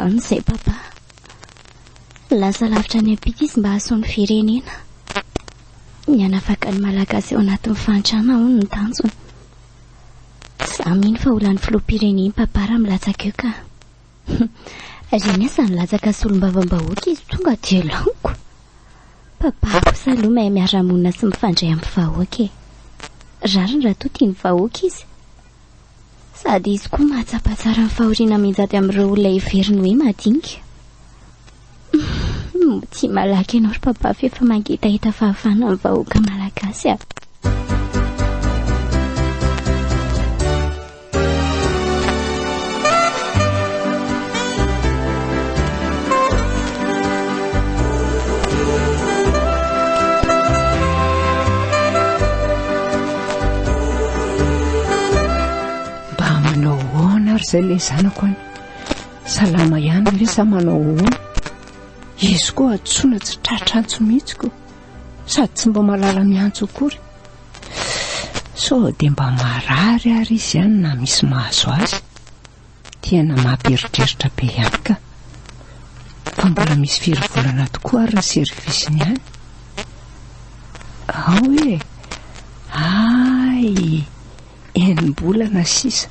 Any izay papa. Lasa lavitra any ampita izy mba hahasoa ny firenena. Ny hanafaka ny malagasy ao anatin'ny fahantrana hono ny tanjony. Za mino fa ho lany filoham-pirenena papa raha milatsaka eo ka. Reny aza nilatsaka solombavam-bahoaka izy tonga dia laniko. Papa kosa aloha mahay miara-monina sy mifandray amin'ny vahoaka e. Rariny raha toa tia ny vahoaka izy. Sady izy koa mahatsapa tsara ny fahoriana mianjady amin'ireo olona heveriny hoe madinika. Motia malaky ianao ry papa fa efa mangetaheta fahavana amin'ny vahoaka malagasy ah. Mba manao hoana ary izay ilay zanako any. Salama ihany ve sa manao hoana? Izy koa atsoina tsy tratra antso mihitsy koa. Sady tsy mba malala miantso akory. Sao dia mba marary ary izy ihany na misy mahazo azy. Tena mampieritreritra be ihany ka! Fa mbola misy firy volana tokoa ary ny service-ny any? Ao e! Hay! Enim-bolana sisa!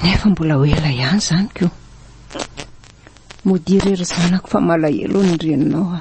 Nefa mbola ho ela ihany izany ko! Mody irery zanako fa malahelo ny reninao aho.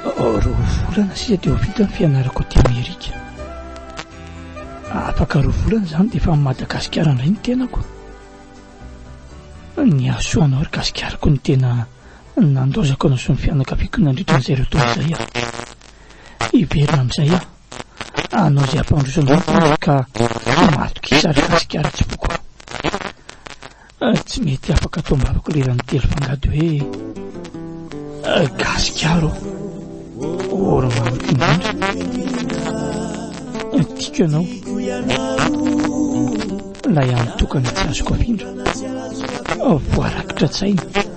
Roa volana sisa dia ho vita ny fianarako aty Amerika. Afaka roa volana izany dia efa amin'i Madagasikara indray ny tenako. Ny hahasoanao ry Gasikariko no tena nandaozako anao sy ny fianakaviako nandritra an'izay roa taona izay aho. Hiverina amin'izay aho. Anao izay hampandroso anao ny tenako ka matokia sa ry Gasikara tsipoko. Ah tsy mety afaka ato ambavako le rano telo fangady hoe ah, gasikaro ora mamako indrindra ah, tiko ianao lay antokana tsy azoko afindra ah, voarakitra tsaina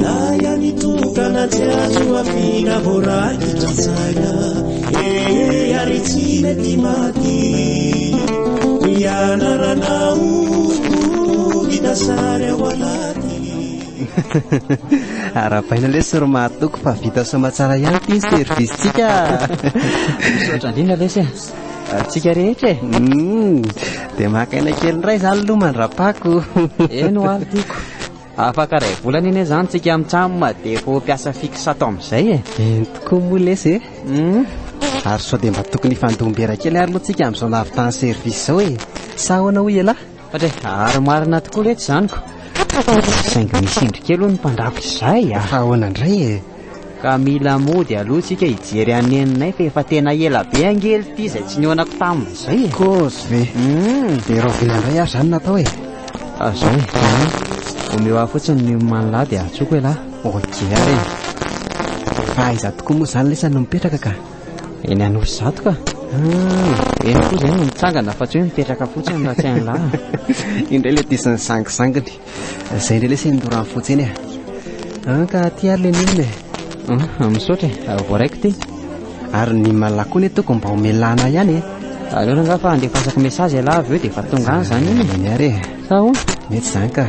Na ihany tokana tsy azo ampiana voarakitra saina eh ary tsy mety maty ianarana oh vita sary ao anaty Arabaina lesy ry mahatoky fa vita soa aman-tsara ihany ity ny service-tsika. Misaotra indrindra lesy e. Antsika rehetra e. Hmm, dia maka aina kely indray izany aloha mandra-pako. Eny ho any tiako. Afaka ray volana anie zany tsika am cam de efa mpiasa fixe ato amzay e. Eny tokoa moa lesy e. Humm. Ary sao dia mba tokony hifandoha mbera kely ary moa tsika amzao nahavitany service zao e. Sa ahoana hoy ialahy? Patry e, ary marina tokoa letsy izany ko. Saingy misy indry kely hono mpandrafitra izay a. Fa ahoana indray e. Ka mila mody aloha tsika hijery an'i Neninay fa efa tena ela be ange ity izay tsy nihaonako taminy izay e. Kozy ve? Hum. Dia rahoviana indray ary izany natao e? Fa izao e, Neny, omeo ahy fotsiny ny oman'lah dia antsoiko elah. Ok ary e. Fa aiza tokoa moa izany lesy no mipetraka ka? Eny Anosizato ka. Ah, eny koa izay no mitsangana fa tsy hoe mipetraka fotsiny raha tsy hain'lah. Indray ilay disin'ny zangizanginy. Zay indray lesy nidorany fotsiny e. Ah, ka aty ary le milina e. Ah, misaotra e, ah, voaraiko ty. Ary ny malala koa ne toko mba omelana ihany e. Aleo ranga fa andefasako message ialahy avy eo dia efa tonga any izany iny. Eny ary e. Sa ho? Mety izany ka.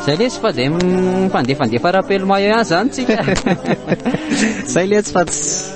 Zay lesy fa dia mifandefandefa rapelo maillot ihany izany tsika. Zay lesy fa tsy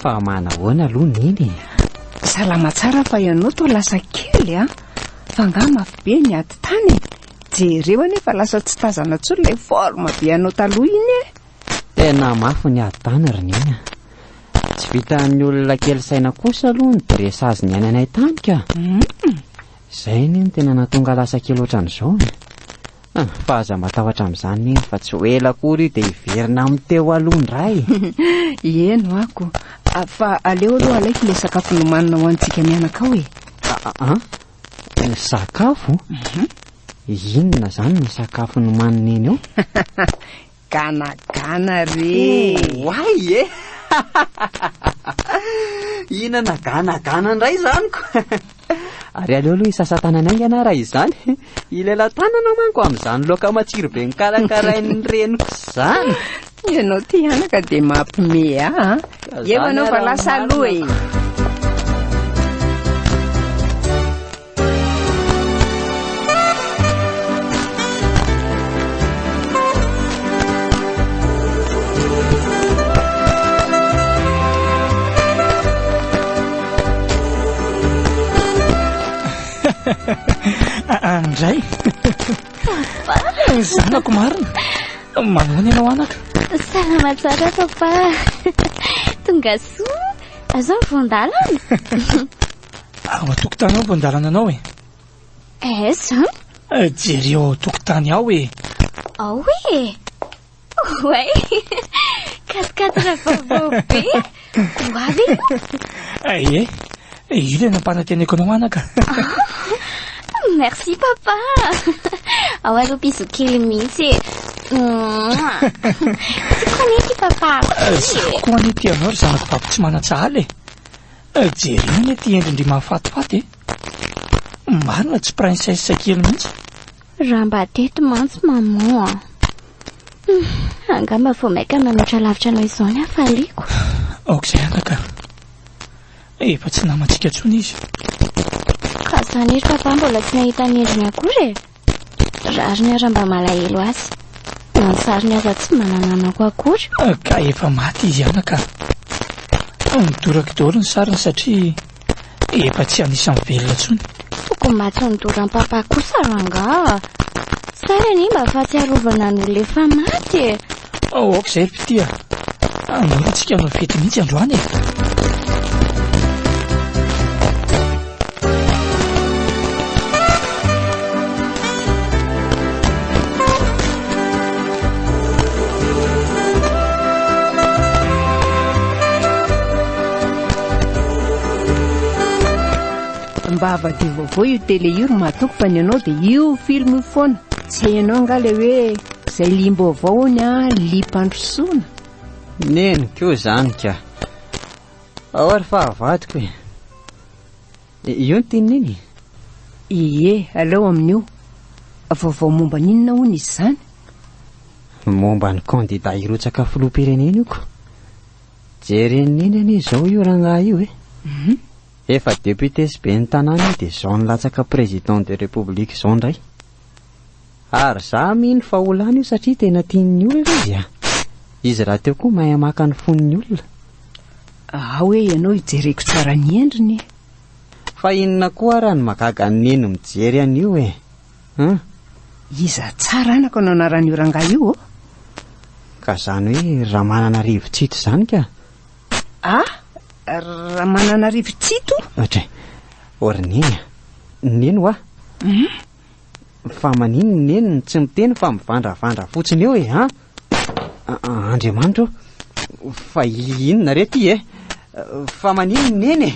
Fa manahoana aloha Neny e? Salama tsara fa ianao toa lasa kely an! Fa angaha mafy be ny ady tany e? Jereo anie fa lasa tsy tazana intsony ilay forme be anao taloha iny e! Tena mafy ny ady tany ry Neny a! Tsy vitan'ny olona kely saina kosa aloha ny dressage niainanay tany ka! Izay anie no tena nahatonga lasa kely ohatran'izao e! Ah, fa aza matahotra amin'izany neny fa tsy ho ela akory io dia hiverina amin'ny teo aloha indray e! Eny ho'ako, fa aleo aloha alaiky ilay sakafo nomanina ho antsika mianakao e! Ah, ah, sakafo? Mhm. Inona izany ny sakafo nomanin'i Neny ao? Gana gana re eh! Oay eh! Hihinana gana gana indray izany ko! Ary aleo aloha hisasa-tanana aingana raha izany. Hilela tanana manko amin'izany laoka matsiro be nokarakarain'ny reniko izany. Ianao ity anaka dia mampime ahy an! Eo ianao fa lasa aloha e! Andray Zanako marina Manana ianao anaka Salama tsara papa Tonga soa Azao vondalana Ao an-tokotany ao vao andalana anao e. Aiza? Jereo ao an-tokotany ao e. Ao e. Oay, katikatana vaovao be. Ho avy Aie, ilay nampananteneko anao anaka. Merci papa. Ao aloha bisous kely mihitsy e. Tsy koa nety papa. Tsy koa nety ianao ry zanako vato tsy manan-tsahala e. Jereo ity endrin-dry mahafatifaty e! Marina tsy princesse kely mihitsy. Raha mba teto mantsy maman a! Hum, angaha mba vao maika manoatra lavitra anao izao ny hafaliako. Aok'izay anga ka! Efa tsy namantsika intsony izy. Ka izany ry papa mbola tsy nahita ny endriny akory e! Rariny ara mba malahelo azy. Na ny sariny aza tsy mba nananako akory. Ka efa maty izy anaka. Midoraky daholo ny sariny satria efa tsy anisan'ny velona tsony. Tokony mba tsy nidoram-papa kosa rangah. Sahy anie mba fahatsiarovana an'olona efa maty e. Aoka izay ry mpitia. Hanombohantsika hanao fety mihitsy androany e. mba havadio vaovao io tele io ry mahatoky fa ny anao dia io film io foana tsy hainao angaha le hoe Zay limbo avao hono a limpandrosoana. Neny koa zany ka. Ao ary fa avadiko e. Io ny tininy iny? Ie, aleo amin'io. Vaovao momba ny inona hono izy zany? Momba ny kandida hirotsaka filoham-pirenena io ko. Jeren'ny iny anie izao io rangahy io e. Mhm. Efa député sy ben'ny tanàna io dia izao nilatsaka président de république izao indray. Ary za mino fa ho lany io satria tena tian'ny olona izy a! Izy rahateo koa mahay maka ny fon'ny olona. Ahaha hoe ianao ijereko tsara ny endriny e! Fa inona koa ary no mahagaga an'i Neny mijery an'io e! Hum. Iza tsara anaka no anaran'io rangahy io ô? Ka zany hoe Ramananarivo Tsito zany ka! Ah, Ramananarivo Tsito? Atray, or neny a, neny hoa. Fa manino ny neny no tsy miteny fa mivandravandra fotsiny eo e, ha? Andriamanitra o, fa inona re ty e? Fa manino ny neny e?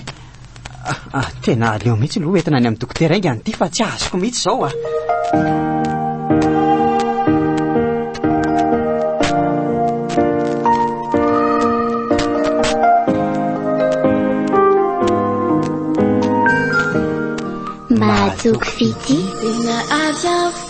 Ah, tena aleo mihitsy aloha entina any amin'ny dokotera ainga an'ity fa tsy azoko mihitsy izao ah. Mahazoky fitia.